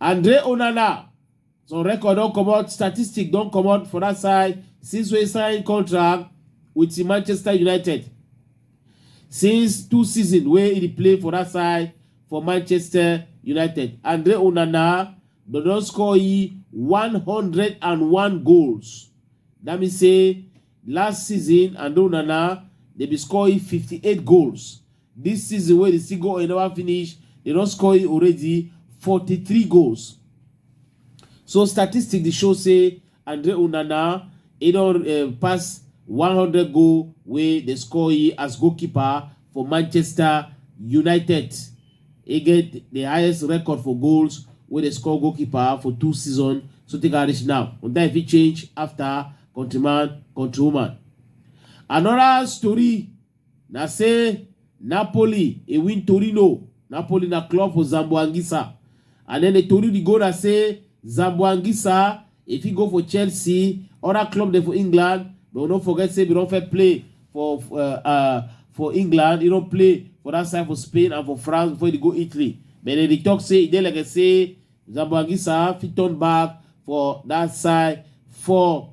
Andre Onana, some record don comot, statistic don comot for that side since wey sign contract with Manchester United. Since two season wey he dey play for that side for Manchester United, Andre Onana don don score e 101 goals. That mean say last season Andre Onana dey be score e 58 goals. Dis season wey di sigo oil neva finish, dem don score already forty three goals. So statistics dey show say Andre Onana e don um pass one hundred goal wey dem score as goalkeeper for Manchester United. E get di highest record for goals wey dem score goalkeeper for two seasons so take am reach now. But dat fit change afta countryman, countrywoman. Anoda story. Na say Napoli e win Torino, Napoli na club for Zamboanguissa and then the tori dey go na say Zamboanguissa e fit go for Chelsea, other club dem for England but we no forget say we don first play for uh, uh, for England, e don play for that side for Spain and for France before e dey go Italy but dem dey talk say e dey like say Zamboanguissa fit turn back for that side for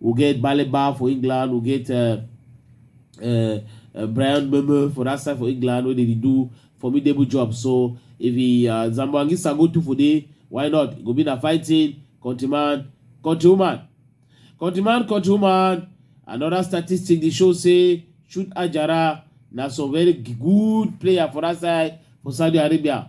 We get Baleba for England, we get uh, uh, uh, Brian Memo for that side for England, where they do formidable job. So if he uh, Zamboangisa go to for day, why not? Go be na fighting, countryman, countrywoman. Countryman, countrywoman, another statistic they show say shoot Ajara na some very good player for that side for Saudi Arabia.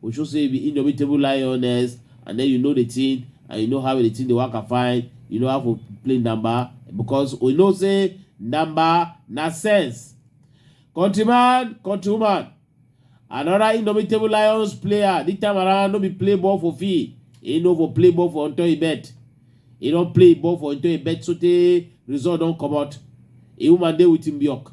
We show say you be indomitable lioness and then you know the thing and you know how the thing dey work and fine. You know how to play number because we know say number na sense. Countryman, countrywoman, another indomitable lions player this time around no be play ball for fee. He no for play ball for Antoine bet. He don play ball for Antoine bet so tey result don comot. A woman dey with him bjork.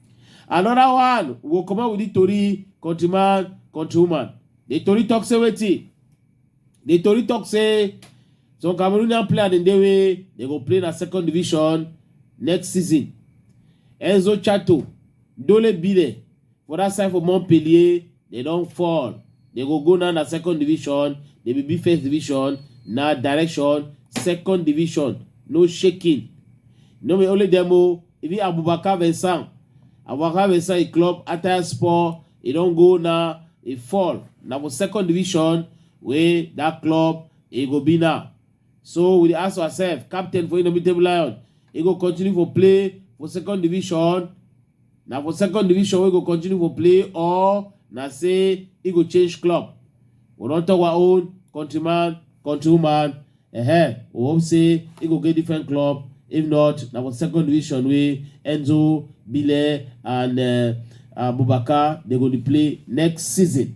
another one go come out with the tori countryman countrywoman the tori talk say wetin the tori talk say some cameroonian player dem dey wey dem go play na second division next season enzo chato dole bile for that side for montpellier They don fall. They go go now na second division. They be be first division. Na direction second division. No shaking. No be only them o. Even Abubakar Vincent. Abubakar Vincent e club Attire Sport. E don go now. E fall. Na for second division wey that club e go be now. So we dey ask ourselves, captain for Indomitable Lion, e go continue for play for second division Na for second division wey go continue for play or na say e go change club? We don talk our own countryman, countrywoman, eh, we hope say e go get different club, if not na for second division wey Enzo, Bile and uh, Abubakar dey go dey play next season.